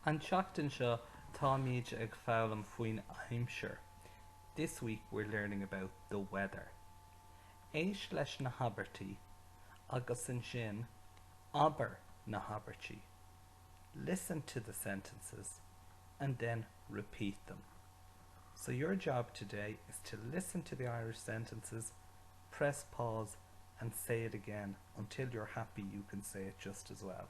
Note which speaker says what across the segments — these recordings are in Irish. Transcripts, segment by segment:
Speaker 1: An tseachtain seo táimid ag foghlaim faoin aimsir This week we're learning about the weather Éist leis na habairtí agus ansin abair na habairtí Listen to the sentences and then repeat them So your job today is to listen to the Irish sentences, press pause and say it again until you're happy you can say it just as well.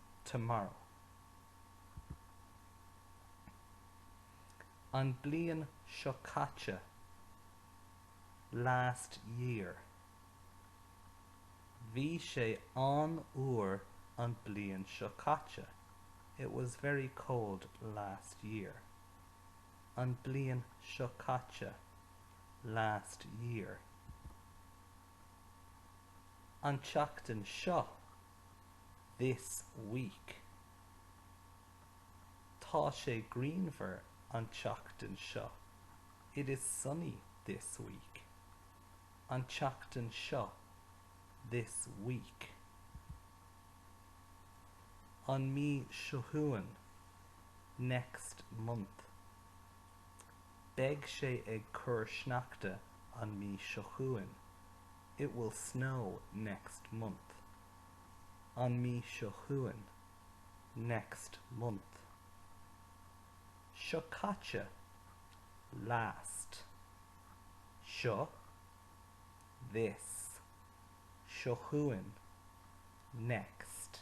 Speaker 1: tomorrow an bliain seo caite last year bhí sé an-fhuar an bliain seo caite it was very cold last year an bliain seo caite last year an tseachtain seo. this week Tá sé grianmhar an tseachtain seo It is sunny this week an tseachtain seo this week an mí seo chugainn next month. Beidh sé ag cur sneachta an mí seo chugainn. It will snow next month. an mí seo chugainn next month seo caite last seo this seo chugainn next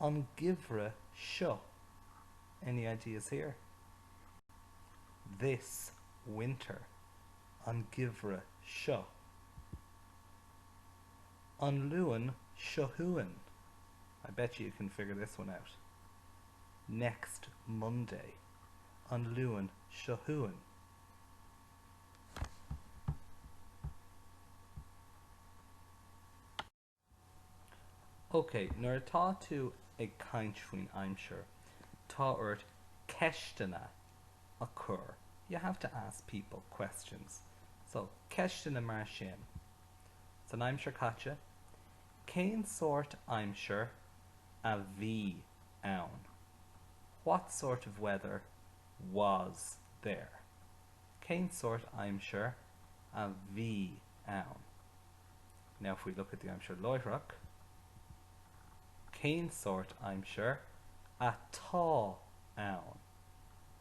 Speaker 1: an geimhreadh seo. Any ideas here? this winter an geimhreadh seo an Luan seo chugainn I bet you can figure this one out next Monday an Luan seo chugainn OK, nuair atá tú ag caint faoin aimsir, tá ort ceisteanna a chur, you have to ask people questions. So, ceisteanna mar sin, San aimsir caite, cén sórt aimsir a bhí ann? What sort of weather was there? Cén sórt aimsir a bhí ann? Now if we look at the aimsir láithreach, cén sórt aimsir atá ann?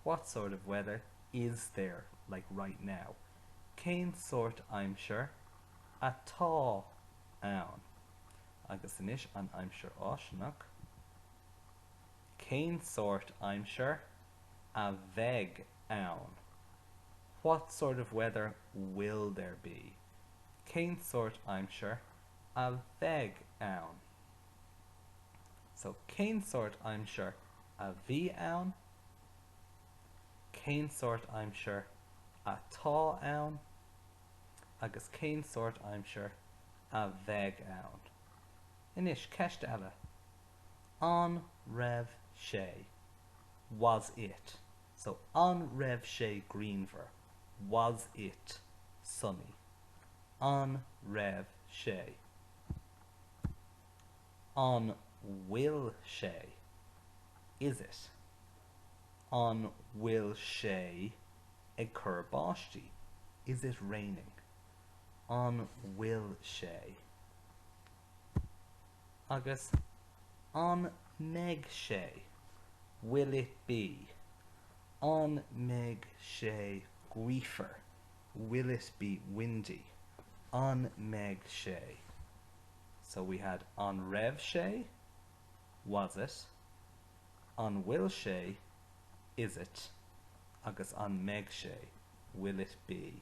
Speaker 1: What sort of weather is there, like right now? Cén sórt aimsir atá ann? Agus anois an aimsir fháistineach, cén sórt aimsir a bheidh ann? What sort of weather will there be? cén sórt aimsir a bheidh ann. So, cén sórt aimsir a bhí ann, cén sórt aimsir atá ann agus cén sórt aimsir a bheidh ann. Anois, ceist eile, an raibh sé? Was it? So, an raibh sé grianmhar? Was it sunny? An raibh sé? An bhfuil sé? Is it? An bhfuil sé ag cur báistí? Is it raining? An bhfuil sé? Agus an mbeidh sé? Will it be? An mbeidh sé gaofar? Will it be windy? An mbeidh sé? So we had an raibh sé? Was it? An bhfuil sé? Is it? Agus an mbeidh sé? Will it be?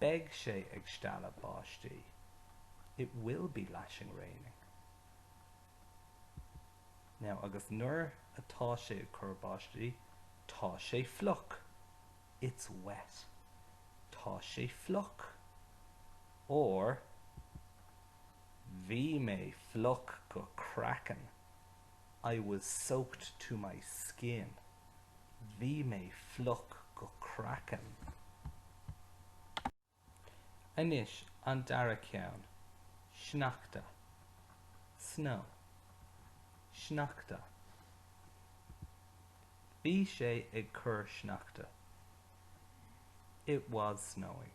Speaker 1: Beidh sé ag stealladh báistí, it will be lashing raining. Now, agus nuair atá sé ag cur báistí, tá sé fliuch, it's wet. Tá sé fliuch. Or, Bhí mé fliuch go craiceann, I was soaked to my skin, bhí mé fliuch go craiceann. Anois an dara ceann, sneachta, snow, sneachta. Bhí sé ag cur sneachta, it was snowing.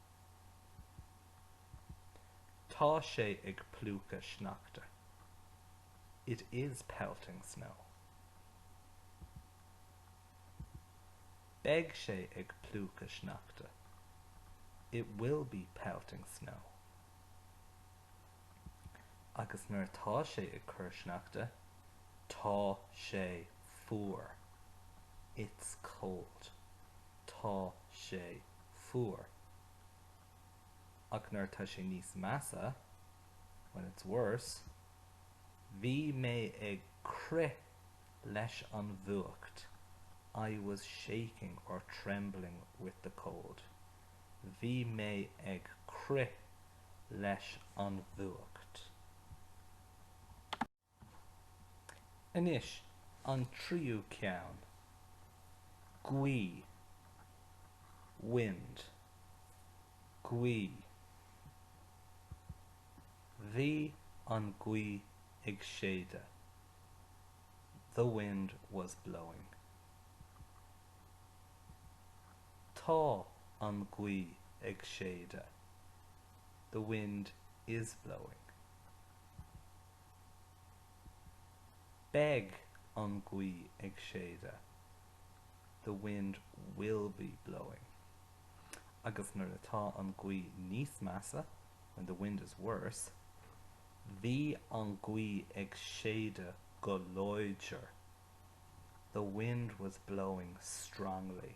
Speaker 1: Tá sé ag plúchadh sneachta. It is pelting snow. Beidh sé ag plúchadh sneachta. It will be pelting snow. Agus nuair atá sé ag cur sneachta, tá sé fuar. It's cold. Tá sé Fuar. Ach nuair atá sé níos measa, when it's worse, bhí mé ag crith leis an bhfuacht, I was shaking or trembling with the cold. Bhí mé ag crith leis an bhfuacht. Anois an tríú ceann. Gaoth. Wind. Gaoth. Bhí an ghaoth ag séideadh. The wind was blowing. Tá an ghaoth ag séideadh. The wind is blowing. Beidh an ghaoth ag séideadh, the wind will be blowing. Agus nuair atá an ghaoth níos measa, when the wind is worse. Bhí an ghaoth ag séideadh go láidir, the wind was blowing strongly.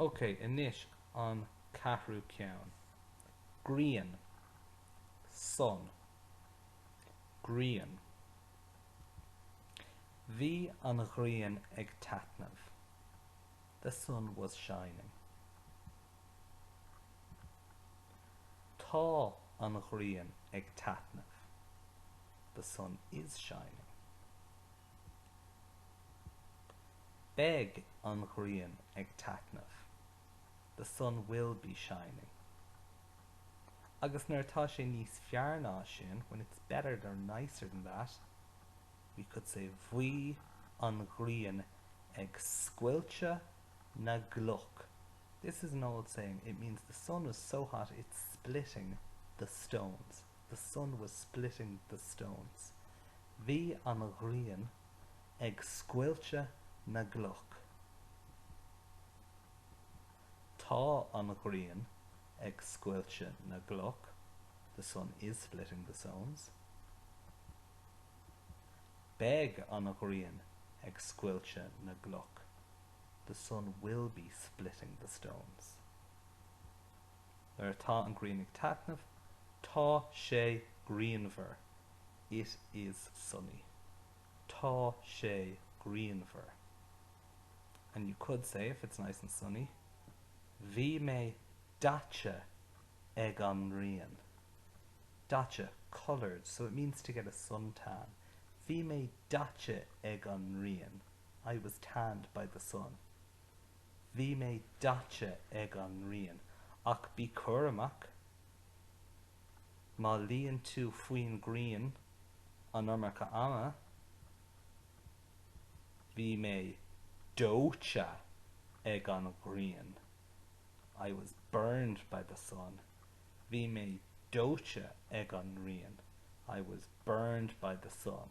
Speaker 1: Ok, anois an ceathrú ceann. Grian. Sun. Grian. Bhí an ghrian ag taitneamh. The sun was shining. Tá an ghrian ag taitneamh. The sun is shining. Beidh an ghrian ag taitneamh, the sun will be shining. Agus nuair atá sé níos fearr ná sin, when it's better or nicer than that, we could say bhí an ghrian ag scoilteadh na gcloch, this is an old saying, it means the sun was so hot it's splitting the stones, the sun was splitting the stones bhí an ghrian. ag scoilteadh na gcloch. Tá an ghrian ag scoilteadh na gcloch, the sun is splitting the stones. Beidh an ghrian ag scoilteadh na gcloch, the sun will be splitting the stones. Nuair atá an ghrian ag taitneamh, tá sé grianmhar. It is sunny, tá sé grianmhar, and you could say, if it's nice and sunny, bhí mé daite ag an ngrian, daite, coloured, so it means to get a sun tan, bhí mé daite ag an ngrian, I was tanned by the sun, bhí mé daite ag an ngrian, ach bí cúramach, Má luíonn tú faoin ngrian an iomarca ama, Bhí mé dóite ag an ghrian. I was burned by the sun. Bhí mé dóite ag an ngrian. I was burned by the sun.